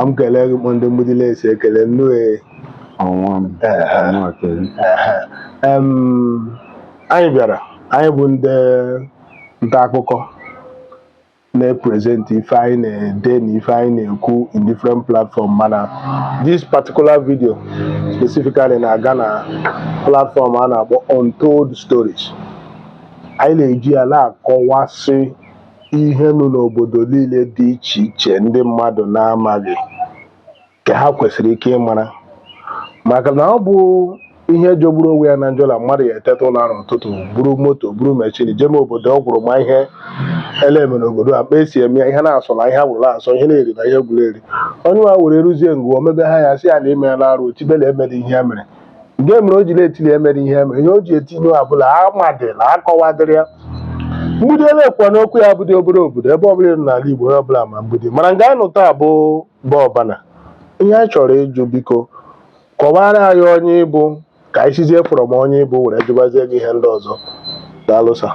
m kelee gị kpa ndị mgbidi na-esi ekele nnu anyị bịara anyị bụ ndị nta akụkọ na-epresent ife anyị na-ede na ife anyị na-ekwu in different platform mana this particular video specifically na-aga na platform a na-akpọ Untold Stories anyị na-eji ya na-akọwasị ihe nọ n'obodo niile dị iche iche ndị mmadụ na-amaghị ka ha kwesịrị ike ịmara maka na ọ bụ ihe jọgburu onwe ya na njọ na mmadụ ya eteta ụla n'ụtụtụ buru moto buru machine jeme obodo ọ gwụrụ ma ihe a la-eme n'obodo a kpa e si eme ya ihe na-asọ na ihe agwụrụ asọ ihe na-eri na ihe gwụrụ eri onye nwa were ruzie nga ahụ o mebe a ya-asị ya na i meela arụ o tibe la e mere ihe ya mere nke mere o ji na-eti la e mere ihe ya mere ihe o ji eti ya bụ la amadị la akọwadịrị ya mgbidi a la-ekwu okwu ya abụdị obere obodo ebe ọbụla nọ n'ala Igbo onye ọbụla ma mgbidi mana nga a nọ taa bụ bụ ọbana ihe anyị chọrọ ịjụ biko kọwara anyị onye ị bụ ka anyị sizie from onye ị bụ were jụbazie gị ihe ndị ọzọ daalụ sir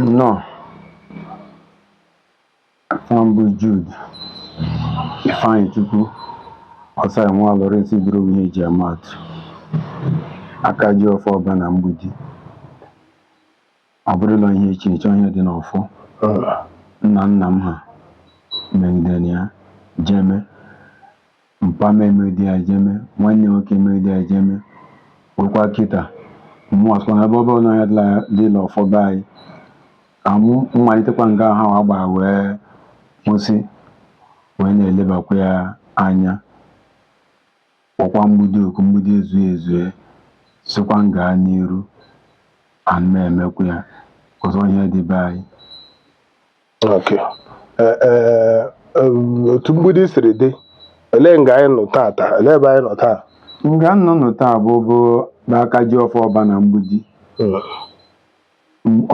nnọọ afa m bụ Jude Ifeanyịchukwu ọsara nwa Lawrence bụrụ ihe e ji ama atụ aka ji ọfọ ọbana mgbidi Ọ bụrụla ihe iche iche ọ ihe dị n'ọfọ nna nna m ha megidere ya jeme, mpa m emegide ya jeme, nwanne nwoke emegide ya jeme, rukwaa kịta mụ asịkwa na ebe ọ bụ la ihe dị la ọfọ be anyị ka mụ malitekwa nga ha wa gbara wee kwụsị wee na-elebakwa ya anya Kpọkwa mgbidi oku, mgbidi ezue ezue, sịkwa m gaa n'iru, and m emekwa ya. Cos ọ ihe dị be anyị. Okay. Eh, eh, eh, otu mgbidi siri dị, olee nga anyị nọ tata? Olee ebe anyị nọ taa? Nga unu nọ taa bụ bụ be aka ji ọfọ ọbana mgbidi. Mm.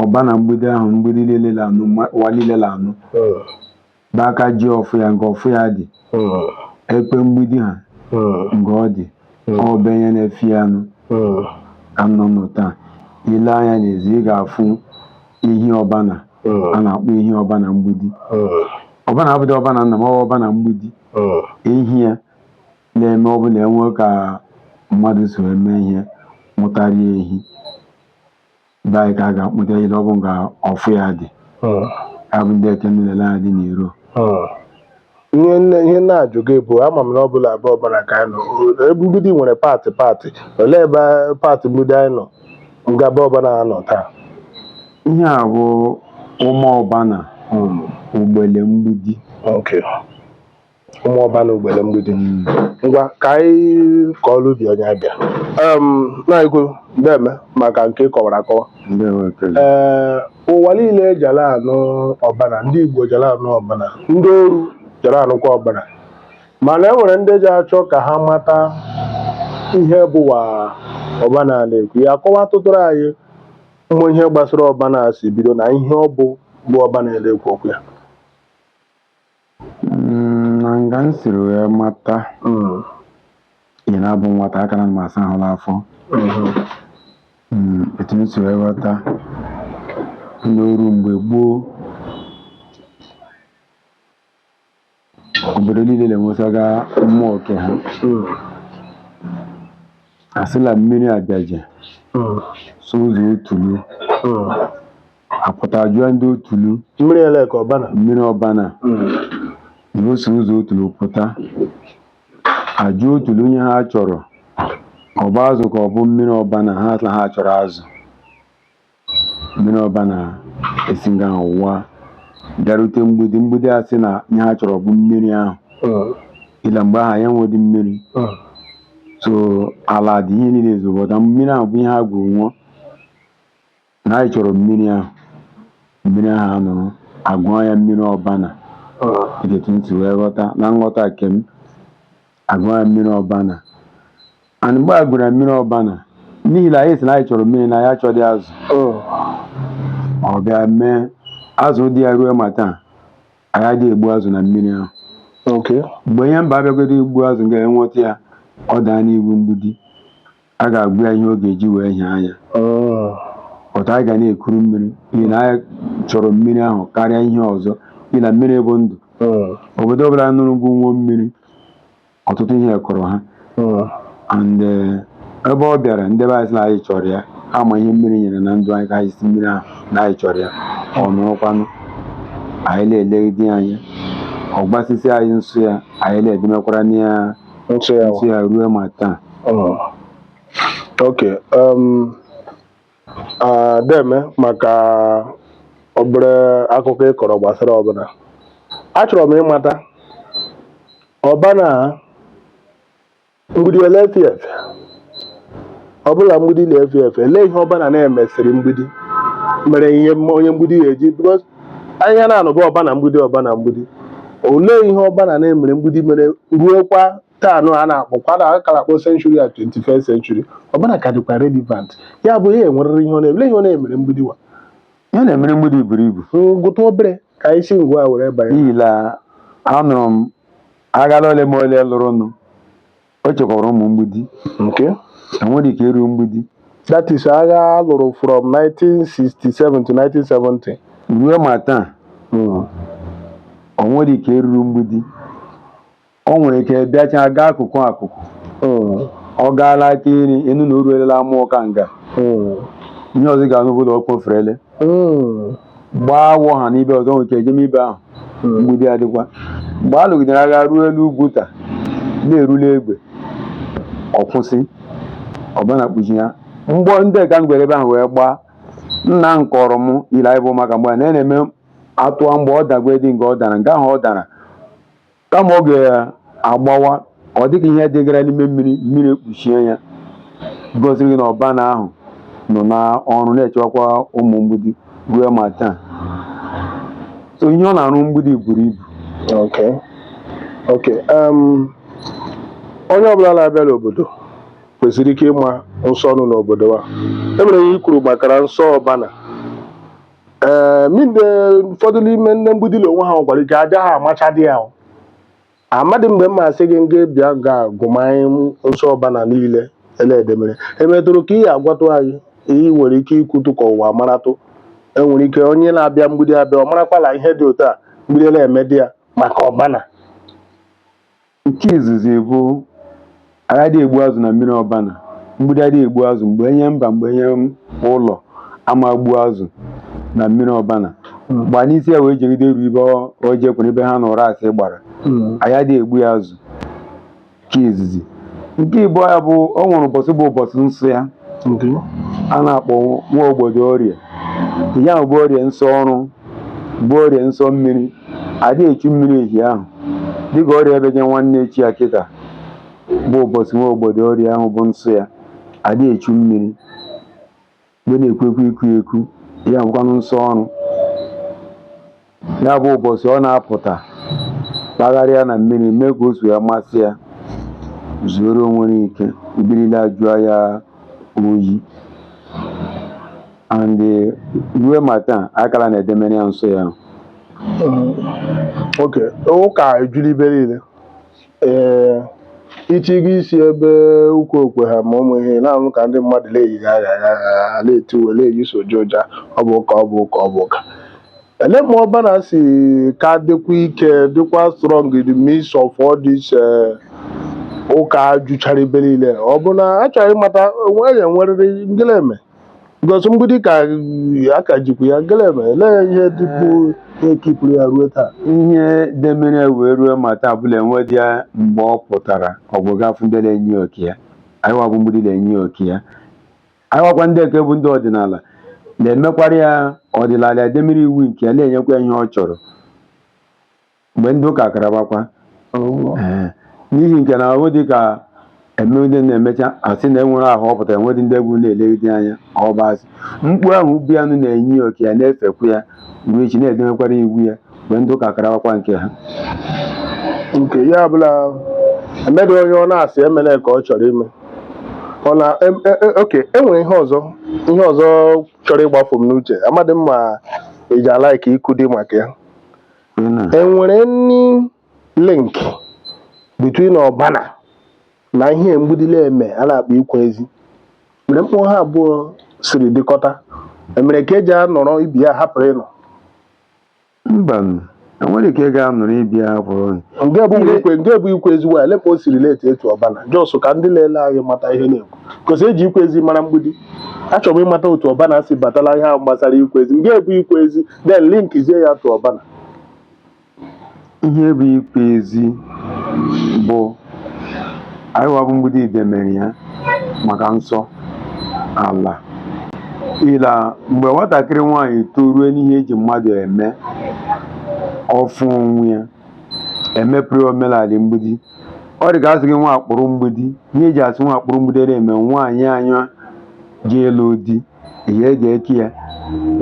ọbana mgbidi ahụ mgbidi niile la anụ ma- ụwa niile la anụ mm, be aka ji ọfọ ya nga ọfọ ya dị mm, ekpe mgbidi ha mm, nga ọ dị ọ be onye na-efe ya nụ mm, ka unu nọ taa i lee anya n'ezi ị ga-afụ ehi ọbana mm, a na-akpọ ehi ọbana mgbidi mm, ọbana abụdị ọbana nna m ọ bụ ọbana mgbidi mm, ehi a na-eme ọ bụ la e nwee ka mmadụ so eme ihe wetara ya ehi be anyị ka a ga-akpụta ejide ọ bụ nga ọfụ ya dị ya bụ ndị eke niile ya dị n'iro ihe nne ihe na-ajụ gị bụ ama m na ọ bụ la be ọbana ka anyị nọ ebe mgbidi nwere paatị paatị olee ebe paatị mgbidi anyị nọ nga be ọbana nọ taa ihe a bụ ụmụ ọbana ugbele mgbidi okay ụmụ ọbana ugbele mgbidi ngwa ka anyị kọọrọ ubi onye abịa nna anyị ukwu ndeme maka nke ị kọwara akọwa ndewo ekele ee ụwa niile jara anụ ọbana ndị igbo jara anụ ọbana ndị oru jara anụkwa ọbana mana e nwere ndị ji achọ ka ha mata ihe bụwa ọbana a na-ekwu ya kọwatụtụrụ anyị mmụ ihe gbasara ọbana si bido na ihe ọ bụ bụ ọbana na-ekwu okwu ya Mm, na nga m siri wee mata Mm, ị na-abụ nwata aka na m asa ahụ n'afọ mhm. Mm, etu m si wee ghọta n'oru mgbe gboo obodo niile na-enwesaga mmụọ oke ha Mm, a sị la mmiri abịaje mm, so ụzọ otulu mm. apụta jụọ ndị otulu mmiri ele ka ọbana mmiri ọbana na o si ụzọ otulu pụta ajụ otulu ihe ha chọrọ ọ bụ azụ ka ọ bụ mmiri ọbana ha sị na ha chọrọ azụ mmiri ọbana esi nga ahụwa bịarute mgbidi mgbidi a sị na ihe ha chọrọ bụ mmiri ahụ ihi la mgbe ahụ anyị enwedị mmiri so ala dị ihe niile ezobọta mmiri ahụ bụ ihe ha gwuru nwụọ Na anyị chọrọ mmiri ahụ, mmiri ahụ anọrọ, agụọ ya mmiri ọbana. Etu m si wee ghọta, na nghọta nke m, agụọ ya mmiri ọbana. And mgbe a gụrụ ya mmiri ọbana, n'ihi na anyị sị na anyị chọrọ mmiri na anyị achọdị azụ. Ọ bịa mee azụ dị ya ruo ma taa, anyị adịghị egbu azụ na mmiri ahụ. Mgbe onye mba abịagodo igbu azụ e nweta ya, ọ daa n'iwu mgbidi. a ga-agwa ya ihe ọ ga-eji wee hịa anya Mm. but anyị ga na-ekuru mmiri n'ihi na anyị chọrọ mmiri ahụ karịa ihe ọzọ n'ihi na mmiri bụ ndụ Mm. obodo ọbụla nụrụ ngwu nwụọ mmiri ọtụtụ ihe kọrọ ha Mm. and eh, ebe ọ bịara ndị be anyị sị na anyị chọrọ ya ama ihe mmiri nyere na ndụ anyị ka anyị sị mmiri ahụ na anyị chọrọ ya ọ nọrọkwanụ anyị na-elegide ya anya ọ gwasịsị anyị nsọ ya anyị na-edemekwara na ya nsọ ya ruo ma taa oh. ok um, deme maka obere akụkọ ị kọrọ gbasara ọbana achọrọ m ịmata ọbana mgbidi ole efi efe ọ bụla mgbidi na-efe efe elee ihe ọbana na-emesịrị mgbidi mere ihe onye mgbidi ga-eji because anyị na-anụba ọbana mgbidi ọbana mgbidi olee ihe ọbana na-emere mgbidi mere ruokwa taa nụ a na-akpọkwa na akara akpọ century a 21st century ọbana ka dịkwa relevant ya bụ ya enwerịrị ihe ọ na-eme lee ihe ọ na-emere mgbidi wa ihe na-emere mgbidi buru ibu m gụta obere ka anyị si nga a were banye n'ihi na anụrụ m agha la ole ma ole lụrụnụ o chekwabara ụmụ mgbidi nke enwere ike iru mgbidi that is agha a lụrụ from 1967 to 1970 ruo ma taa o nwere ike iruru mgbidi o nwere ike bịachaa gaa akụkụ akụkụ ọ gaala aka iri ị nụ na o ruolela amọka nga ihe ọzọ ị ga-anụ bụ la ọ kpoferele gbaa awọ ha n'ibe ọzọ nwere ike ejem ibe ahụ mgbidi adịkwa mgbe a lụgidere agha ruo elu ugwuta na-erule egwe ọ kwụsị ọbana kpuchie ya mgbọ ndị ka m gwere ebe ahụ wee gbaa nna m kọrọ m ihi la anyị bụ ụmụaka mgbe a na-eme a tụa mgbọ ọ dagwa dị nga ọ dara nga ahụ ọ dara Kama ọ ga-agbawa, ọ dịka ihe dịgara n'ime mmiri, mmiri ekpuchie ya, gosiri gị na ọbana ahụ nọ n'ọrụ na-echewakwa ụmụ mgbidi ruo ma taa. So ihe ọ na-arụ mgbidi buru ibu. Okay. Okay. Um, onye ọbụla na-abịa n'obodo kwesịrị ike ịma nsọ nọ n'obodo a. E nwere ihe i kwuru makara nsọ ọbana. ee ma nde ụfọdụ n'ime nde mgbidi la onwe ha nwekwara ike aja ha amachadị ya o. amadị mgbe mma asị gị ngwa bịa ga gụmanyị m nsọ ọbana niile eledemere emetụrụ aka ị ya-agwatụ anyị i nwere ike ikwutụ ka ụwa maratụ enwere ike onye na-abịa mgbidi abịa ọ marakwala ihe dị otu a mgbidi na-emedị ya maka ọbana Nke izizi bụ anyị adị egbu azụ na mmiri ọbana mgbidi adị egbu azụ mgbe onye mba mgbe onye ụlọ ama gbu azụ na mmiri ọbana gba n'isi ya wee jegide ruo ibe o jekwere ibe ha na ụrasị gbara anyị adị egbu ya azụ nke izizi nke ịbụa ya bụ o nwere ụbọchị bụ ụbọchị nsọ ya a na-akpọ nwa ogbodo orie ya bụ orie nsọ ọrụ Bụ orie nsọ mmiri, adị echu mmiri ehi ahụ. Dịka orie ebeje nwanne echi ya kịta, bụ ụbọchị nwa ogbodo orie ahụ bụ nsọ ya, adị echu mmiri. Mgbe na-ekwekwa iku eku, ya bụkwanụ nsọ ọrụ. Ya bụ ụbọchị ọ na-apụta kpagharịa na mmiri mee ka o so ya masị ya zuoro onwe ya ike mmiri la ajụọ ya oyi and ruo ma taa akala na-edemere ya nsọ ya okay ụka ejula ibe niile ee ichigo isi ebe ụka okwe ha ma ụmụ ihe na-anụ ka ndị mmadụ na-eyighị agha agha na-eti uwe na-eyi soja ụja ọ bụ ụka ọ bụ ụka ọ bụ ụka ele ma ọbana si ka dịkwa ike dịkwa strong in the midst of all this eh, ụka juchara ibe niile ọ bụ na achọghị ịmata onwe ya enwerịrị ngịleme Because mgbidi ka aka jikwa ya gelebe lee ihe dịkwu ihe kipụrụ ya ruo taa ihe demere wee ruo ma taa bụla enwedị ya mgbe ọ pụtara ọ bụ gafụ ndị na-enye ya oke ya anyịwa bụ mgbidi na-enye ya oke ya anyịwakwa ndị nke bụ ndị ọdịnala na-emekwara ya ọdịnala edemere iwu nke ya na-enyekwa ya ihe ọ chọrọ mgbe ndị ụka karabakwa Oh. Ee, n'ihi nke na ọ dị ka eme onye na-emecha asị na enwere ahụ ọ pụtara enwedị ndị egwu na-elegide anya ọ bụ asị mkpu ahụ bịanụ na-enye oke ya na-efekwu ya ruo echi na-edemekwara iwu ya mgbe ndị ụka karawakwa nke ha nke ya bụla emedị onye ọ na-asị emela ka ọ chọrọ ime ọ na em- e- e- okay enwere ihe ọzọ ihe ọzọ chọrọ ịgbafu m n'uche amadị m ma ị ga-alaiki ikwu dị maka ya enwere any link between ọbana na ihe mgbidi la-eme a na-akpọ ikwe ezi mere mkpụrụ ha abụọ siri dịkọta emere ka eji anọrọ ibi ya hapụrụ no mba enwere ka ị ga-anọrọ ibi ya hapụrụ nke bụ ikwe nke bụ ikwe ezi waya lekwa o si relate to ọbana just ka ndị na-ele anyị mata ihe a na-ekwu cos eji ikwe ezi mara mgbidi achọrọ m ịmata otu ọbana si bata la ihe ahụ gbasara ikwe ezi nke bụ ikwe ezi then linkizie ya to ọbana ihe bụ ikwe ezi bụ anyịwa bụ mgbidi idemere ya maka nsọ ala ila mgbe nwatakịrị nwaanyị torue n'ihe eji mmadụ eme ọ fụ onwe ya emepere omenala mgbidi ọ dị ka asị gị nwa akpụrụ mgbidi ihe eji asị nwa akpụrụ mgbidi na-eme nwaanyị anya ji ela di ihe eji eke ya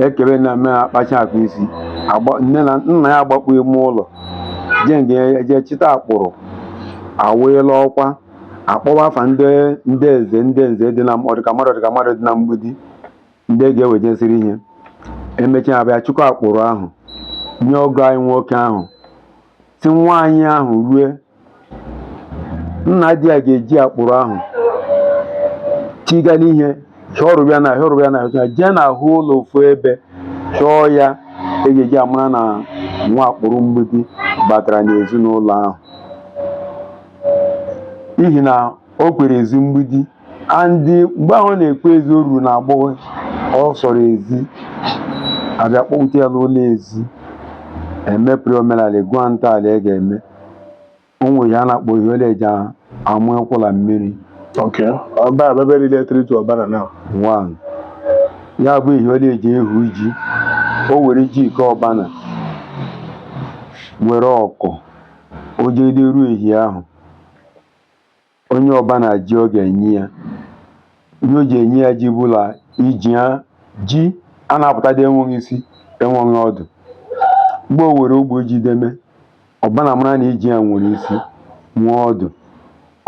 ekebe na eme akpacha akụ isi agba nne na nna ya agbakpu ime ụlọ je nge eje chịta akpụrụ awụe la ọkwa akpọwa afa ndị ndị eze ndị nze dị na ọdịka mmadụ ọdịka mmadụ dị na mgbidi ndị ga-ewejesịrị ihe emechaa abịa chịkọ akpụrụ ahụ nye ọgọ anyị nwoke ahụ sị nwaanyị ahụ rue na di ya ga-eji akpụrụ ahụ chịga la ihe chọrọ ya na hịọrọ ya na hịọcha jee n'ahụ ụlọ ofu ebe chọọ ya e ga-eji amara na nwa akpụrụ mgbidi batara n'ezinụlọ ahụ n'ihi na o kwere ezi mgbidi and mgbe ahụ ọ na-ekwe ezi o ruru na agbọghọ ọ sọrọ ezi abịa kpọpụta ya n'ụlọ ezi emepere omenala egwu a ntọala e ga-eme o nwere ihe a na-akpọ ihe ole eji amụ ekwụla mmiri Okay. Ọba abebe related to ọbana now. one ya bụ ihe ole eji ehu ji o were ji ike ọbana were ọkụ o jede ruo ehi ahụ O nye ọbana ji ọ ga-enye ya ihe o ji enye ya ji bụ la iji ya ji a na-apụta dị enweghị isi enweghị ọdụ mgbe o were ogbe ji deme ọbana mara na iji ya nwere isi nwee ọdụ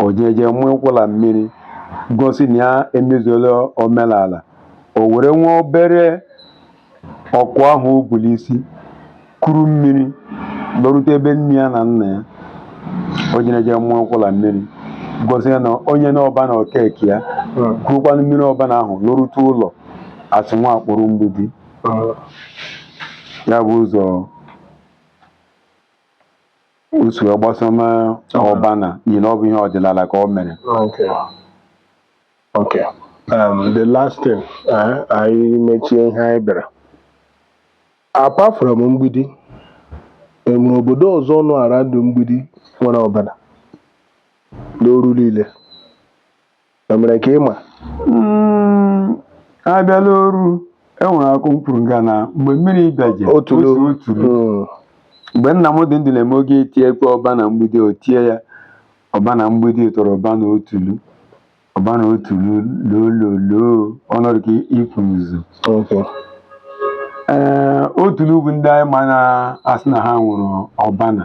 o jeje mụ ụkwụla mmiri gosi na ya emezuola omenala o were nwa obere Ọkụ ahụ o bu n'isi kuru mmiri lọrute ebe nne ya na nna ya. O jere jee mụọ ụkwụla mmiri, gosi ya na o nyena ọbana oke ke ya, kurukwanụ mmiri ọbana ahụ lọrute ụlọ asị nwa akpụrụ mgbidi. Ya bụ ụzọ o si wee gbasoma ọbana n'ihi na ọ bụ ihe ọdịnala ka o mere. Okay. Um, the last thing eh, anyị mechie ihe anyị bịara apart from mgbidi enwere obodo ọzọ nọ around mgbidi nwere ọbana n'oru niile emere ka ịma Mm, abịala oru enwere akụ mkpụrụ nga na mgbe mmiri bịaje otulu otu otulu Mm, mgbe nna m dị ndụ na-eme oge etie ekwe ọbana mgbidi o tie ya Ọbana mgbidi tọrọ ọbana otulu. Ọbana otulu lololoo ọ nọdụ ka ikwu nzu. Okay. Ee, otulu bụ ndị anyị ma na-asị na ha nwụrụ ọbana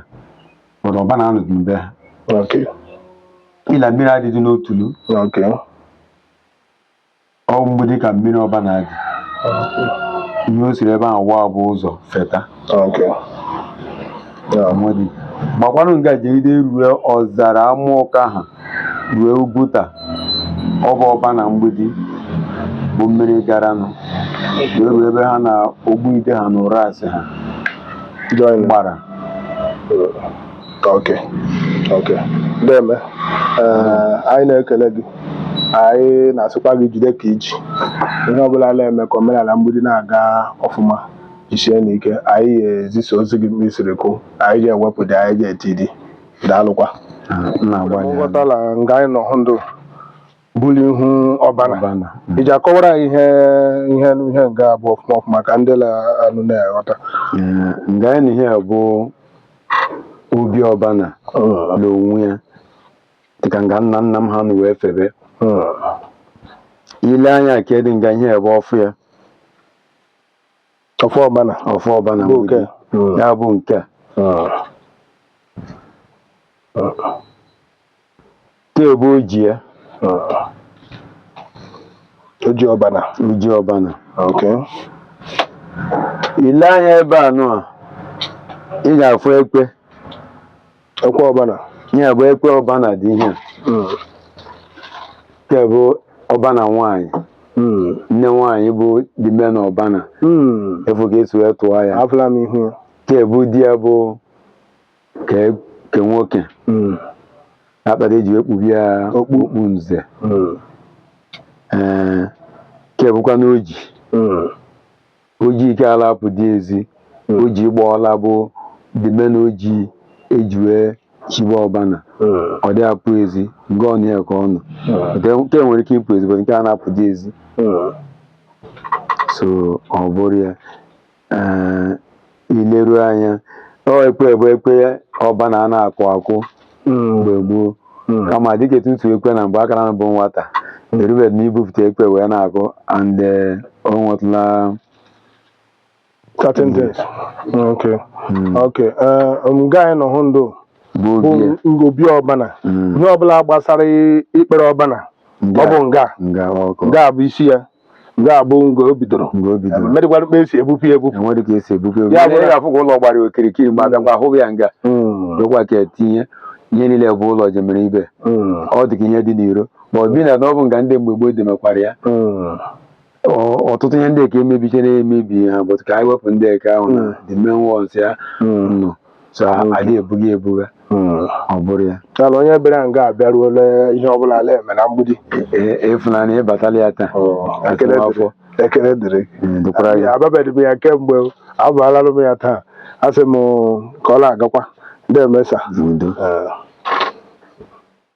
but ọbana anọdụ mbe ha. Okay. Ịla mmiri adịdị n'otulu. Okay. Ọ bụ mgbidi ka mmiri ọbana dị. Ihe o siri ebe ahụ waa bụ ụzọ feta. Okay. Yeah. Amadi. Gbakwanụ nga jegide rue ọzara Amụọka ha rue Ugwuta. Ọ bụ ọbana mgbidi bụ mmiri garanụ wee ruo ebe ha na Ogbuide ha na ụrasị ha Join. gbara. Okay. Okay. Deme, eh, anyị na-ekele gị anyị na-asịkwa gị jide ka i ji ihe ọbụla na-eme ka omenala mgbidi na-aga ọfụma jisie n'ike anyị ga-ezisa ozi gị mgbe i siri kwu anyị ga-ewepụdị anyị ga-etidị daalụkwa m na-agbalị nghọtala nga anyị nọ hụ ndụ buli ihu ọbana ọbana mm. ị ja-akọwara anyị ihe ihe ihe nga bụ ọfụma ọfụma ka ndị la-anụ na-aghọta Eh, nga anyị nọ ihe a bụ obi ọbana Mm, n'onwe ya dịka nga nna nna m ha nọ wee febe mm, i lee anya ka dị nga ihe a bụ ọfọ ya ọfọ ọbana ọfọ ọbana bụ nke hmm. ya bụ nke a tee bụ oji ya oji ọbana oji ọbana okay i lee anya ebe a nụ a ị ga-afụ ekwe ekwe ọbana ya bụ ekwe ọbana dị ihe nke bụ ọbana nwaanyị nne nwaanyị bụ the main ọbana afụ ka esi wee tụọ ya afụla m ihu ya nke bụ di ya bụ ke ke nwoke akpata eji wee kpubi ya Okpu. okpu nze ee nke bụkwanụ oji Oji ike a la-apụ dị ezi, oji gba ọla bụ the main oji eji wee chiba ọbana, ọ dị apụ ezi, nga ọ nọ a ka ọ nọ. Nke nke nwere ike ịpụ ezi, but nke a na-apụ dị ezi. So ọ bụrụ ya, eh, i leru anya, ọ ekwe bụ ekwe ọbana a na-akụ akụ. mgbe gboo kama dịka etu utu ekwe na mgbe akara m bụ nwata erubedị n'ibupụta ekwe wee na-akụ and eh, o nwetụla certain things okay okay eh, nga anyị nọ hụ ndụ bụ bụ obi ya. ngobi ọbana ihe ọbụla gbasara ikpere ọbana ọ bụ nga nga ọ bụ nga bụ isi ya nga a bụ nga o bidoro mgbe o bidoro medịkwara mkpa esi ebupụ ya ebupụ enwere ka esi ebube ya bụ ya afụ ka ụlọ gbara okirikiri ma bịakwa ahụghị ya nga dokwa ka etinye ihe niile bụ ụlọ jemere ibe ọ dị ka ihe dị n'iro ma ọ bi na na ọ bụ nga ndị mgbe gboo demekwara ya ọ- ọtụtụ ihe ndị ka emebichara emebi ha bụtụ ka anyị wepụ ndị ka ahụ na the main ones ya nọ so a- Mm. adị ebughị ebuga Mm. ọ bụrụ ya Ya na onye bịara nga abịaruola ihe ọbụla a la-eme na mgbidi E- efunanya ịbatala ya taa ekele Asụm afọ. dịrị ekele dịrị Mm, dịkwara ya ababedị m ya kemgbe abaalalụ m ya taa a sị m ka ọ na-agakwa ndị emesa udo Eh,